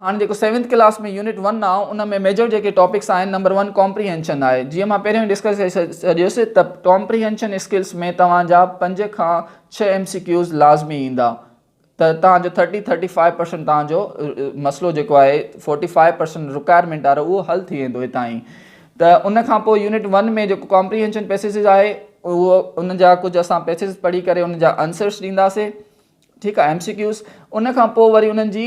هاڻ جيڪو seventh class ۾ unit one آهي ان ۾ ميجر جيڪي ٽاپڪس آهن نمبر ون ڪامپريهنشن آهي جيئن مان پهريون ڊسڪس ڪري ڇڏيس ته ڪامپريهنشن اسڪلس ۾ توهان جا پنج کان ڇهه ايم سي ڪيوز لازمي ايندا ته توهان جو ٿرٽي ٿرٽي فائيو پرسنٽ توهان جو مسئلو جيڪو آهي فورٽي فائيو پرسنٽ رڪوائرمينٽ وارو اهو حل ٿي ويندو هتان ئي ته ان کان پوء يونٽ ون ۾ جيڪو ڪامپريهنشن پيسيز آهي اهو ان جا ڪجهه اسان پيسيز پڙهي ڪري ان جا آنسرس ڏينداسي ٺيڪ آهي ايم سي ڪيوز ان کان پوء وري انهن جي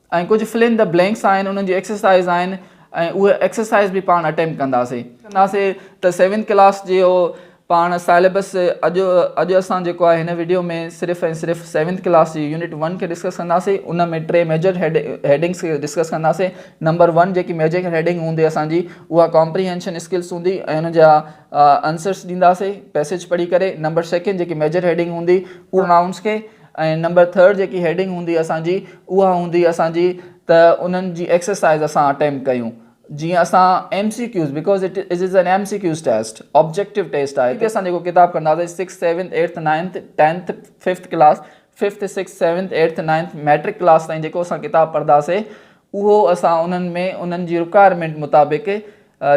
۽ ڪجهه فل ان دي بلينڪس آهن انهن جي ايڪسرسائيز آهن ۽ اهي ايڪسرسائيز به پاڻ اٽيمپٽ ڪنداسي. ڪنداسي ته سيونٿ ڪلاس جي اهو پاڻ سيليبس اڄ اڄ اسان جيڪو آهي هن وڊيو ۾ صرف ۽ صرف سيونٿ ڪلاس جي يونٽ ون کي ڊسڪس ڪنداسي ان ۾ ٽي ميجر هيڊنگس کي ڊسڪس ڪنداسي نمبر ون جيڪي ميجر هيڊنگ هوندي اسان جي اها ڪامپريهينشن اسڪلس هوندي ۽ ان جا انسرس ڏينداسي پيسيج پڙهي ڪري نمبر سيڪنڊ جيڪي ميجر هيڊنگ هوندي اها نائونس کي ۽ نمبر ٿرڊ جيڪي هيڊنگ هوندي اسان جي اها هوندي اسان جي ته انهن جي ايڪسرسائيز اسان اٽيمپٽ ڪيون جيئن اسان M C Qs because it is an M C Qs test objective test آهي ته اسان جيڪو ڪتاب کڻنداسين six seventh eight ninth tenth fifth class fifth six seventh eight ninth matric class تائين جيڪو اسان ڪتاب پڙهنداسين اهو اسان انهن ۾ انهن جي رڪوائرمينٽ مطابق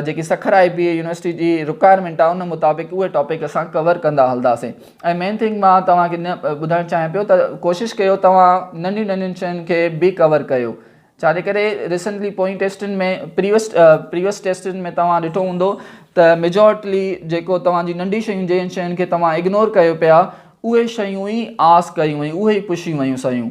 جيڪي Sukkur I B A university جي رڪوائرمينٽ آ ان مطابق اهي ٽاپڪ اسان ڪور ڪندا هلنداسين ۽ مين ٿنگ مان توهان کي ٻڌائڻ چاهيان پيو ته ڪوشش ڪيو توهان ننڍين ننڍين شين کي به ڪور ڪيو ڇا جي ڪري ريسنٽلي پوئين ٽيسٽن ۾ پريوس پريوس ٽيسٽن ۾ توهان ڏٺو هوندو ته ميجورٽلي جيڪو توهان جي ننڍي شيون جنهن شين کي توهان اگنور ڪيو پيا اهي شيون ئي آس ڪيون ۽ اهي ئي پڇيون ويون سيون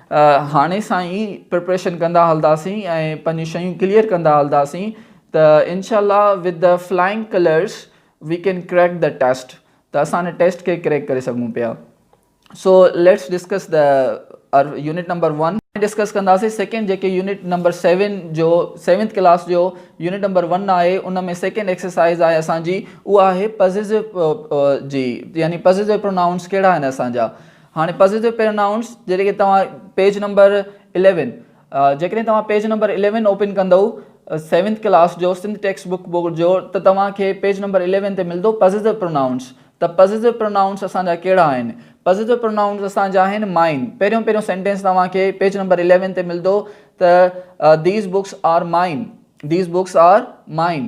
هاڻي سان ئي پريپريشن ڪندا هلنداسين ۽ پنهنجون شيون ڪليئر ڪندا هلنداسين ته انشاء الله with the flying colours we can crack the test ته اسان ان ٽيسٽ کي ڪريڪ ڪري سگهون پيا so let's discuss the unit number one discuss ڪنداسين سيڪنڊ جيڪي يونٽ نمبر سيون جو سيونٿ ڪلاس جو يونٽ نمبر ون آهي ان ۾ سيڪنڊ ايڪسرسائز آهي اسانجي اها آهي پزيسو جي يعني پزيسو پرونائونس ڪهڙا آهن اسانجا هاڻي پسنديده پرونائونس جڏهن کي توهان پيج نمبر اليون جيڪڏهن توهان پيج نمبر اليون اوپن ڪندؤ سيونٿ ڪلاس جو سنڌ ٽيڪسٽ بڪ بورڊ جو ته توهان کي پيج نمبر اليون تي ملندو پسنديده پرونائونس ته پسنديده پرونائونس اسان جا ڪهڙا آهن پسنديده پرونائونس اسان جا آهن مائن پهريون پهريون سينٽينس توهان کي پيج نمبر اليون تي ملندو ته these books are mine these books are mine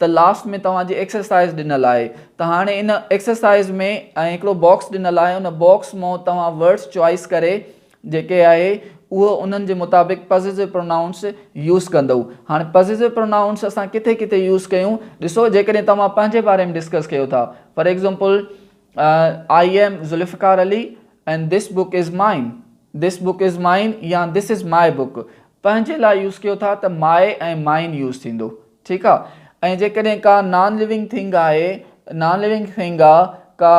ته لاسٽ ۾ توهان جي ايڪسرسائز ڏنل آهي ته هاڻي ان ايڪسرسائز ۾ ۽ هڪڙو باڪس ڏنل آهي ان باڪس مون توهان ورڊس چوائيس ڪري جيڪي آهي اهو انهن جي مطابق پزيسو پرونائونس يوز ڪندئو هاڻي پزيسو پرونائونس اسان ڪٿي ڪٿي يوز ڪيون ڏسو جيڪڏهن توهان پنهنجي باري ۾ ڊسڪس ڪيو ٿا for example I am Zulfiqar Ali and this book is mine this book is مائن يا دس از مائي بڪ پنهنجي لاء يوز ڪيو ٿا ته مائي ۽ مائن يوز ٿيندو ٺيڪ آ ۽ جيڪڏهن ڪا نان ليونگ ٿنگ آهي نان ليونگ ٿنگ آ ڪا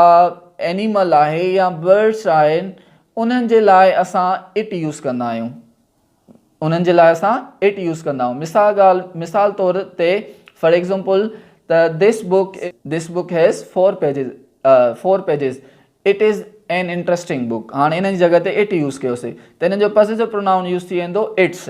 اينيمل آهي يا برڊس آهن انهن جي لاء اسان اٽ يوز ڪندا آهيون انهن جي لاء اسان اٽ يوز ڪندا آهيون مثال ڳالهه مثال طور تي فار ايگزامپل ته this book this book has four pages four pages it is an interesting book هاڻي انهن جي جڳهه تي اٽ يوز ڪيوسي ته انهن جو پزيسو پرونائون يوز ٿي ويندو اٽس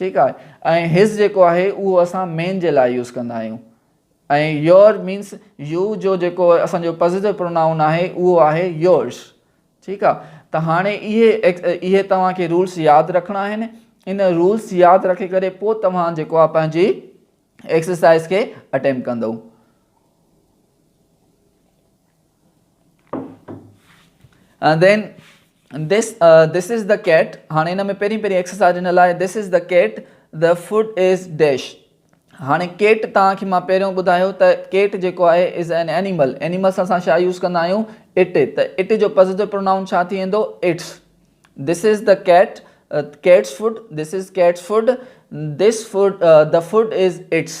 ٺيڪ آهي ۽ his جيڪو آهي اهو اسان مين جي لاء يوز ڪندا آهيون ۽ your مينس يو جو جيڪو اسان جو پازيٽو پرونائون آهي اهو آهي yours ٺيڪ آهي ته هاڻي اهي اهي توهان کي رولس ياد رکڻا آهن ان رولس ياد رکي ڪري پوء توهان جيڪو آهي پنهنجي ايڪسرسائز کي اٽيمپ ڪندو دين دس دس از دا ڪيٽ هاڻي هن ۾ پهرين پهرين ايڪسرسائز هن لاء this is the cat the food is dash هاڻي ڪيٽ تان کي مان پهريون ٻڌايو ته ڪيٽ جيڪو آهي از اين اينيمل اينيمل سان اسان ڇا يوز ڪندا آهيون اٽ ته اٽ جو پازيٽو پرونائون ڇا ٿي ويندو it's this is the cat cat's food this is cat's food this food the food is it's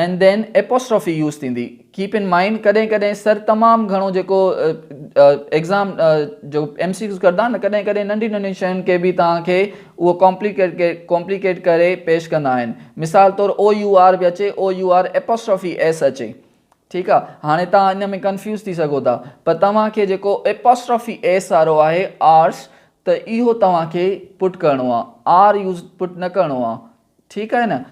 N then apostrophe use ٿيندي. ڪيپ ان مائنڊ ڪڏهن ڪڏهن سر تمام گهڻو جيڪو ايگزام جو ايم سي ڪيوز ڪردا نه ڪڏهن ڪڏهن ننڍين ننڍين شين کي به توهان کي اهو ڪامپليڪيٽ ڪري پيش ڪندا آهن مثال طور او يو آر به اچي O U R apostrophe S اچي ٺيڪ آ هاڻي توهان ان ۾ ڪنفيوز ٿي سگهو ٿا پر توهان کي جيڪو ايپوسٽرافي ايس وارو آهي آرس ته اهو توهان کي پٽ ڪرڻو آ آر يوز پٽ نه ڪرڻو آ ٺيڪ آهي نه.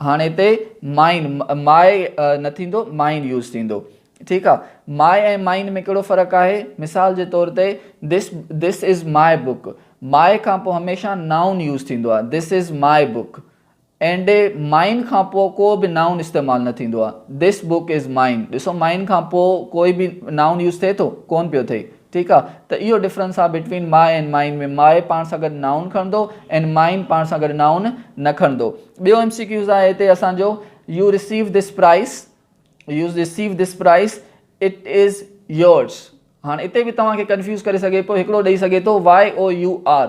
هاڻي هتي مائن ماء نه ٿيندو مائن يوز ٿيندو ٺيڪ آ ماء ۽ مائن ۾ ڪهڙو فرق آهي مثال جي طور تي دس دس از ماء بوڪ ماء کان پوء هميشه نائون يوز ٿيندو آهي this is my book and mine کان پوء ڪو به نائون استعمال نه ٿيندو آهي دس بوڪ از مائن ڏسو مائن کان پوء ڪوئي به نائون يوز ٿئي ٿو ڪون پيو ٿئي ٺيڪ آ ته اهو ڊفرنس آ بٽوين ماء ۽ مائين ۾ ماء پاڻ سان گڏ نائون کڻندو ۽ مائين پاڻ سان گڏ نائون نه کڻندو ٻيو ايم سي ڪيوز آهي هتي اسان جو you receive this prize you receive this prize it is yours هاڻ اتي به توهان کي ڪنفيوز ڪري سگهي پيو هڪڙو ڏئي سگهي ٿو واء او يو آر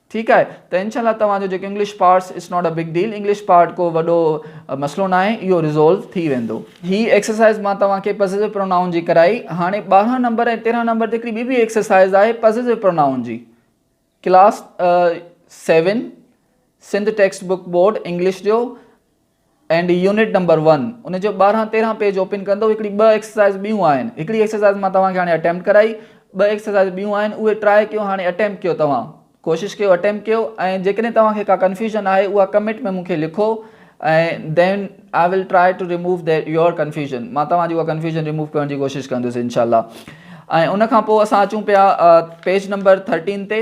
ٺيڪ آهي ته انشاء الله توهان جو جيڪو English parts it's not a big deal English part ڪو وڏو مسئلو نه آهي اهو ريزولو ٿي ويندو. هي ايڪسرسائز مان توهان کي پزيسو پرونائون جي ڪرائي هاڻي ٻارهن نمبر ۽ تيرهن نمبر تي هڪڙي ٻي به ايڪسرسائز آهي پزيسو پرونائون جي class seven Sindh text book board English جو اينڊ يونٽ نمبر ون ان جو ٻارهن تيرهن پيج اوپن ڪندو هڪڙي ٻه ايڪسرسائز ٻيون آهن هڪڙي ايڪسرسائز مان توهان کي هاڻي اٽيمپٽ ڪرائي ٻه ايڪسرسائز ٻيون آهن اهي ٽرائي ڪيو هاڻي اٽيمپٽ ڪيو توهان ڪوشش ڪيو اٽيمپٽ ڪيو ۽ جيڪڏهن توهان کي ڪا ڪنفيوزن آهي اها ڪمينٽ ۾ مونکي لکو ۽ then I will try to remove their your confusion مان توهان جي اها ڪنفيوزن ريموو ڪرڻ جي ڪوشش ڪندس انشاء الله ۽ ان کان پوء اسان اچون پيا پيج نمبر ٿرٽين تي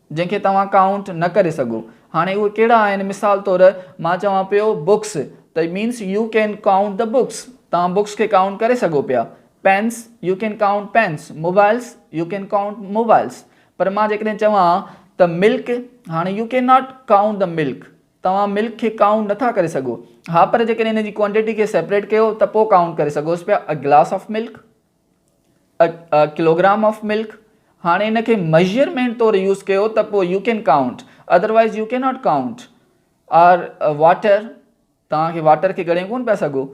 جنهن کي توهان ڪائونٽ نه ڪري سگهو. هاڻي اهي ڪهڙا آهن مثال طور مان چوان پيو بوڪس ته it means you can count ته بوڪس توهان بوڪس کي ڪائونٽ ڪري سگهو پيا. Pens you can count pens mobiles you can count mobiles پر مان جيڪڏهن چوان ته ملڪ هاڻي يو ڪين ناٽ ڪائونٽ ته ملڪ توهان ملڪ کي ڪائونٽ نه ٿا ڪري سگهو ها پر جيڪڏهن ان جي ڪوانٽيٽي کي سيپريٽ ڪيو ته پوء ڪائونٽ ڪري سگهوس پيا a glass of milk a kilogram of milk هاڻي ان کي ميجرمينٽ طور يوز ڪيو ته پوء you can count otherwise you can not count or water توهان کي واٽر کي ڳڻي ڪون پيا سگهو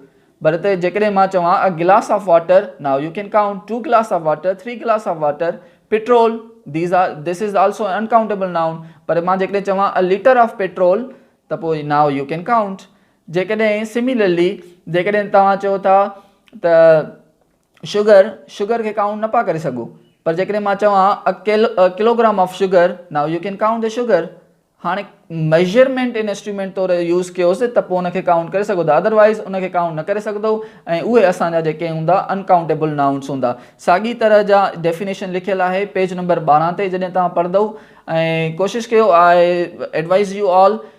پر هتي جيڪڏهن مان چوان a glass of water now you can count two glass of water three glass of water petrol these are this is also an countable noun پر مان جيڪڏهن چوان ا ليٽر آف پيٽرول ته پوء ناو يو ڪين ڪائونٽ جيڪڏهن Similarly، جيڪڏهن توهان چئو ٿا ته Sugar، شگر کي ڪائونٽ نه پئا ڪري سگهو، پر جيڪڏهن مان چوان A Kilogram of Sugar، Now you can count the sugar، هاڻي Measurement Instrument طور يوز ڪيوس ته پوء ان کي ڪائونٽ ڪري سگهو ٿا Otherwise، ان کي ڪائونٽ نه ڪري سگهندؤ ۽ اهي اسان جا جيڪي هوندا Uncountable Nouns هوندا. ساڳي طرح جا Definition لکيل آهي پيج نمبر ٻارهن تي جڏهن توهان پڙهندؤ ۽ ڪوشش ڪيو I Advise you all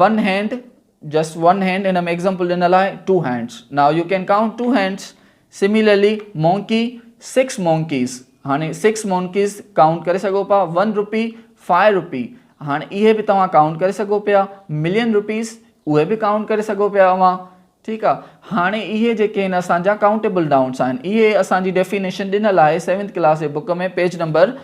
one hand just one hand هن ۾ ايگزامپل ڏنل آهي two hands now you can count two hands similarly monkey six monkeys هاڻي سڪس مونڪيز ڪائونٽ ڪري سگهو پيا ون روپي فائيو روپي هاڻي اهي به توهان ڪائونٽ ڪري سگهو پيا ملين روپيز اهي به ڪائونٽ ڪري سگهو پيا اوهان ٺيڪ آ هاڻي اهي جيڪي هن اسان جا ڪائونٽيبل ڊائونس آهن اهي اسان جي ڊيفينيشن ڏنل آهي سيونٿ ڪلاس جي book ۾ page number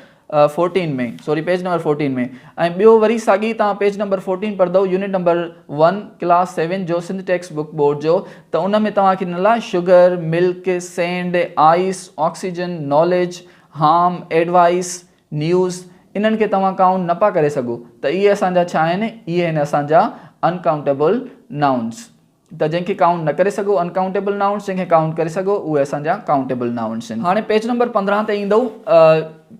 fourteen ۾ sorry page number fourteen ۾ ۽ ٻيو وري ساڳي تان پيج نمبر فورٽين پڙهدو unit number one class seven جو سنڌ ٽيڪسٽ بوڪ بورڊ جو ته ان ۾ توهان کي ڏنل آهي sugar milk sand ice oxygen knowledge ham advice news, انهن کي توهان ڪائونٽ نه پيا ڪري سگهو ته اهي اسان جا ڇا آهن؟ اهي آهن اسان جا Uncountable Nouns ته جنهن کي ڪائونٽ نه ڪري سگهو Uncountable Nouns جنهن کي ڪائونٽ ڪري سگهو اهي اسان جا Countable Nouns آهن. هاڻي پيج نمبر پندرهن تي ايندئو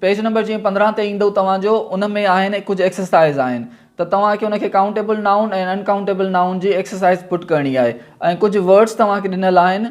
پيج نمبر جيئن پندرهن تي ايندئو توهان جو ان ۾ آهن ڪجهه ايڪسرسائز آهن ته توهان کي ان کي Countable Noun ۽ Uncountable Noun جي ايڪسرسائز پٽ ڪرڻي آهي ۽ ڪجهه ورڊس توهان کي ڏنل آهن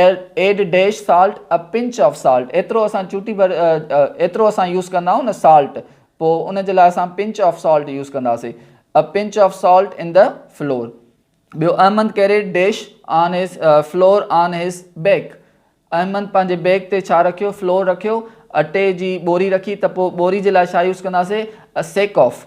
add a dash salt a pinch of salt ايترو اسان چوٽي ڀر ايترو اسان يوز ڪندا آهيون نه سالٽ پوء ان جي لاء اسان پنچ آف سالٽ يوز ڪنداسي a pinch of salt in the flour ٻيو Ahmed carried dash on his flour on his back Ahmed پنهنجي بيڪ تي ڇا رکيو فلور رکيو اٽي جي ٻوري رکي ته پوء ٻوري جي لاء ڇا يوز ڪنداسي سيڪ آف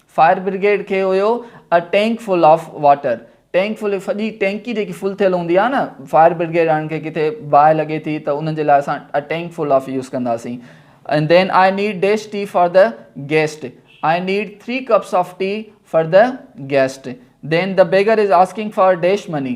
فائر برگيڊ کي have a tank full of water tank full وڏي ٽينڪي جيڪي فل ٿيل هوندي آهي نه فائر برگيڊ وارن کي ڪٿي باهه لڳي ٿي ته انهن جي لاء اسان a tank full of use ڪنداسين and then I need dash tea for the guest I need three cups of tea for the guest then the beggar is asking for dash money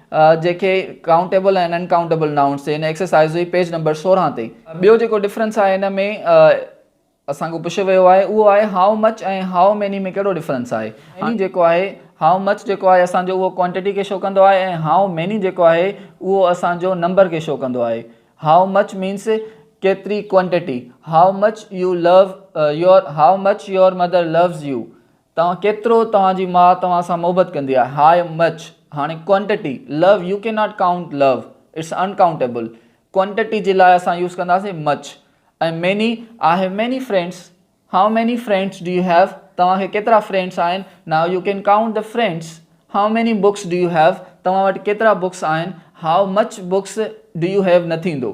جيڪي countable ۽ uncountable nouns جي ان exercise جي page number سورهن تي ٻيو جيڪو difference آهي ان ۾ اسان کان پڇيو ويو آهي اهو آهي هائو مچ ۽ هائو ميني ۾ ڪهڙو ڊفرنس آهي هائو جيڪو آهي هائو مچ جيڪو آهي اسان جو اهو ڪوانٽيٽي کي شو ڪندو آهي ۽ هائو ميني جيڪو آهي اهو اسان جو نمبر کي شو ڪندو آهي هائو مچ مينس ڪيتري quantity how much you love your how much your mother loves you توهان ڪيترو توهان جي ماء توهان سان محبت ڪندي آهي هاء مچ هاڻي ڪوانٽٽي لو يو ڪين ناٽ ڪائونٽ لو اٽس ان ڪائونٽيبل ڪوانٽٽي جي لاء اسان يوز ڪنداسين much ۽ many I have many friends how many friends do you have توهان کي ڪيترا فرينڊس آهن now you can count the friends how many books do you have توهان وٽ ڪيترا بڪس آهن how much books do you have نه ٿيندو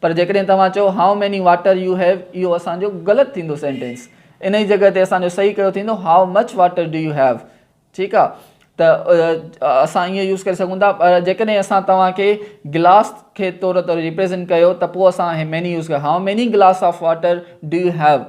پر جيڪڏهن توهان چئو How many water you have اهو اسان جو غلط ٿيندو سينٽينس ان جي جڳهه تي اسان جو صحيح ڪهڙو ٿيندو How much water do you have ٺيڪ آ ته اسان ائين يوز ڪري سگهون ٿا پر جيڪڏهن اسان توهان کي گلاس کي طور طور ريپريزنٽ ڪيو ته پوء اسان هي ميني يوز ڪيو How many glass of water do you have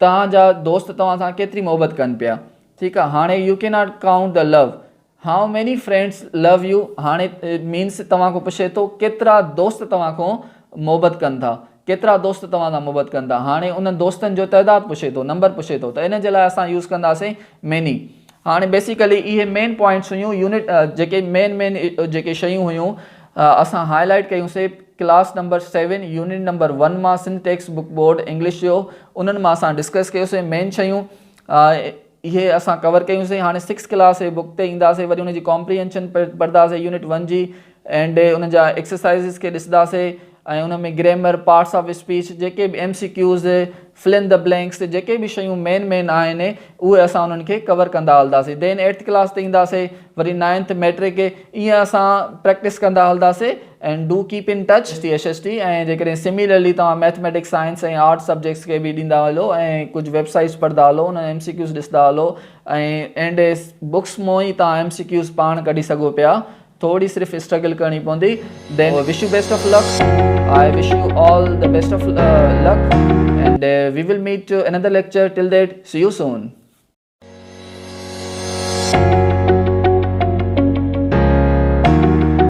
توهان جا دوست توهان سان ڪيتري محبت ڪن پيا ٺيڪ آ هاڻي you can not count the لو هائو ميني فرينڊس لو يو هاڻي مينس توهان کون پڇي ٿو ڪيترا دوست توهان کون محبت ڪن ٿا ڪيترا دوست توهان سان محبت ڪن ٿا هاڻي انهن دوستن جو تعداد پڇي ٿو نمبر پڇي ٿو ته ان جي لاء اسان يوز ڪنداسين ميني هاڻي بيسيڪلي اهي مين پوائنٽس هيون يونٽ جيڪي مين مين جيڪي شيون هيون اسان هاء لائيٽ ڪيون سي class number seven unit number one مان Sindh text book board English جو انهن مان اسان ڊسڪس ڪيو سي مين شيون اهي اسان ڪور ڪيون سي هاڻي سڪس ڪلاس جي بڪ تي ايندا سي وري ان جي ڪامپريهنشن پڙهدا سي يونٽ ون جي اينڊ انهن جا ايڪسرسائيز کي ڏسندا سي ۽ ان ۾ گريمر، پارٽس آف اسپيچ، جيڪي به M C Qs, fill in the blanks تي جيڪي به شيون مين مين آهن اهي اسان انهن کي ڪور ڪندا هلنداسين دين ايٽٿ ڪلاس تي اينداسين وري نائنٿ ميٽرڪ ائين اسان پريڪٽس ڪندا هلنداسين and do keep in touch S T S S T ۽ جيڪڏهن سميلرلي توهان ميٿميٽڪس سائنس ۽ آرٽس سبجيڪٽس کي به ڏيندا هلو ۽ ڪجهه ويب سائيٽس پڙهندا هلو انهن ايم سي ڪيوز ڏسندا هلو ۽ اينڊ بڪس مون ئي توهان ايم سي ڪيوز پاڻ ڪڍي سگهو پيا ٿوري صرف اسٽرگل ڪرڻي پوندي then wish you best of luck I wish you all the best of luck and we will meet another lecture till that see you soan.